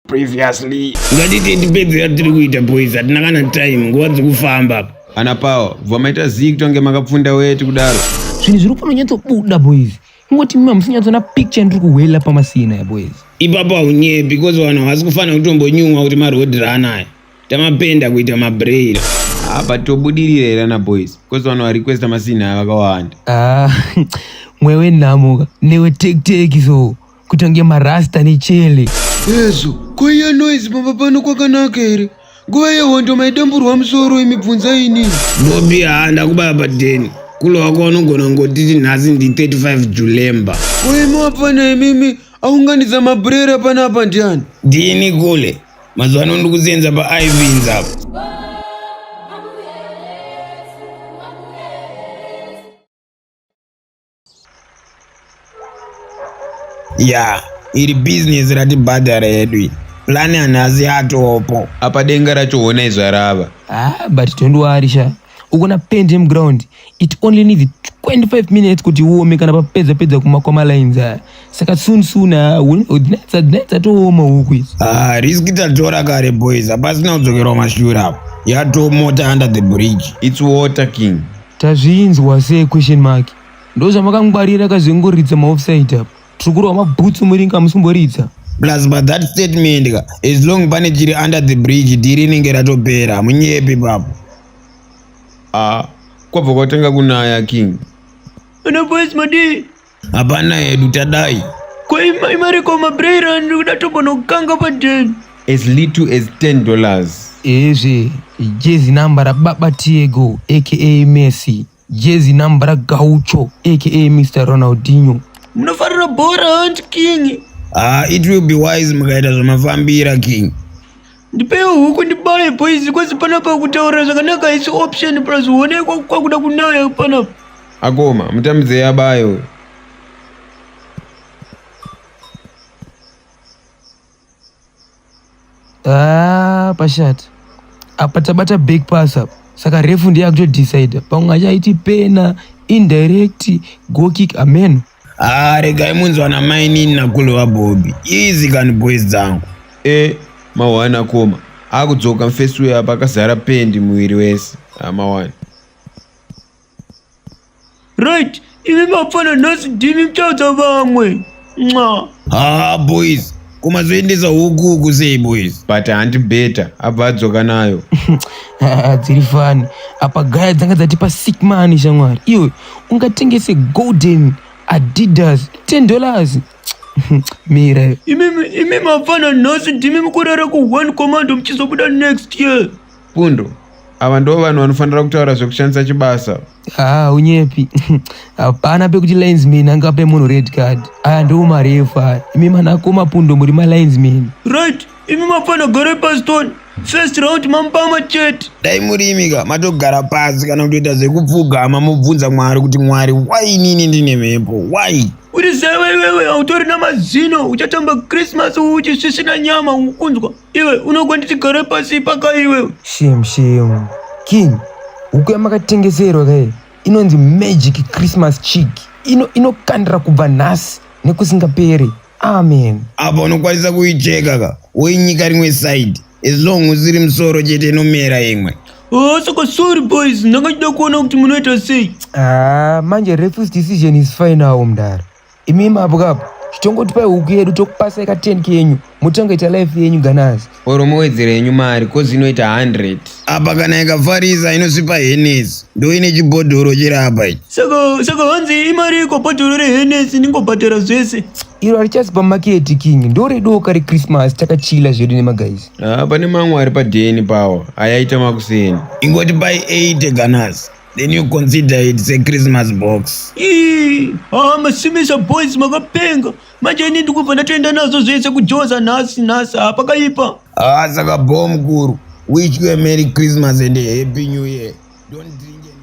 previously ngatite ndipedze yatiri kuita boys hatina kana time nguva dzikufamba apa ana pawa bva maita zii kutonge makapfunda weti kudaro zvinhu zviri kufamba nyatsobuda boys ingoti mima musinyatsoona picture yandiri kuhwela pamasina ya boys ipapo haunyepi because vanhu havasi kufanira kutombonyumwa kuti maroad run aya tamapenda kuita mabrail apa tobudirira here ana boys bcause vanhu varequesta masina aya vakawanda ah, mwewe nhamuka newe tekteki so kutonge marasta nechele ezvo koiya noise pamba pano kwakanaka here nguva yehondo maidamburwa musoro imibvunza inini bobi haa ndakubaya padeni kulo wako wanogona kungotiti nhasi ndi 35 julemba koimi wapfana imimi aunganidza mabrera panapa ndiani ndini kule mazuva ano ndiri kusenza paivins apo ya iri bhizinesi ratibhadhara yedu iyi plani hanhasi yatopo apa denga racho hona izvarava ah but tondiwarisha ukona paint yemuground it only needs 25 minutes kuti uome kana papedza pedza kumakwama lines aya saka soon soon dzatooma huku izi ah, riski tatora kare boys hapasina kudzokerwa mashura apo yatomota under the bridge its water king tazvinzwa se question mark ndozvamakangwarira kazvingoridza maofside apo Tukurwa mabhutsu muringa musimboridza. Plus but that statement ka as long pane chiri under the bridge dhiri inenge ratopera munyepi papo. Ah, kwabva kwatanga kunaya king. Ana boys madi. Hapana hedu tadai. Kwa ima imari kwa mabrera ndokuda tobona kukanga pa den. As little as 10 dollars. Ezve jezi number ra baba Tiego aka Messi. Jezi nambra gaucho aka Mr Ronaldinho. Munofarira bhora hanti king. Ah, it will be wise mukaita zvamafambira king. Ndipewo huku ndibaye boys kwese panapa kutaura zvakanaka haisi option plus huone kwakuda kunaya panapa. Akoma mutambidzei abaye uyo. Ah, pashata apa tabata back pass apa saka refu ndiye akutodecide pamwe achaiti pena indirect go kick ameno ah, regai munzwa na mainini nakulu vabobi easy kani boys dzangu e mawani akoma akudzoka mfesi uyo apa akazara pendi muviri wese ah, mawani Right, imi mafana nhasi ndimi mchaudza vamwe. Nxa. Haa boys, kumazoendesa huku uku sei boys? but hanti beta abva adzoka nayo Ah, dziri fani apa gaya dzanga dzatipa sick mani shamwari iwe ungatengese golden adidas 10 dollars mira iwe. Imi imi mafana nhasi ndimi mukurara ku one command mchizobuda next year. Pundo, ava ndo vanhu vanofanira kutaura zvekushandisa chibasa. Ah, unyepi. Hapana pekuti linesman angape munhu red card. Aya ndiwo marefu aya. Imi manakoma Pundo muri ma linesman. Right, imi mafana gore pastone. First round mampama chete. Dai murimika matogara pasi kana kutoita zvekupfugama mobvunza Mwari kuti Mwari why inini ndine mhepo why? Uri zeve iwewe hautori na mazino uchatamba Christmas uchisvisvina nyama ukunzwa. Iwe unogona tigare pasi ipaka iwe. Shame shame. King, huku yamakatengeserwa kaye inonzi magic Christmas chick. Ino inokandira kubva nhasi nekusingaperi. Amen. Apa unokwanisa kuicheka ka woinyika rimwe side as long usiri musoro chete inomera imwe. Oh, saka sorry boys, ndanga ndida kuona kuti munoita sei. Ah, manje refuse decision is final mdara. Imi mabwa apa chitongotipai huku yedu tokupasai ka 10 kenyu motongoita life yenyu ganazi. Or mowedzera yenyu mari cause inoita 100. Apa kana ikafarisa inosipa henesi ndoine chibhodhoro chiri apa ichi. Saka saka hanzi imari iko bhodhoro rehenesi ndingobhadhara zvese. Iro harichasi pamaketi king ndoredoka reChristmas takachila zvedu nemagaizi. Ah, pane mamwe ari padheni pawo ayaita makuseni. Ingoti pai 80 ganazi. Then you consider it it's a Christmas box. Ii, ah, masimisa boys makapenga. Manje ini ndikubva ndatoenda nazvo zvese kujoza nhasi nhasi ah, pakaipa. Ah, saka bho mukuru. Wish you a Merry Christmas and a Happy New Year. Don't drink and drive.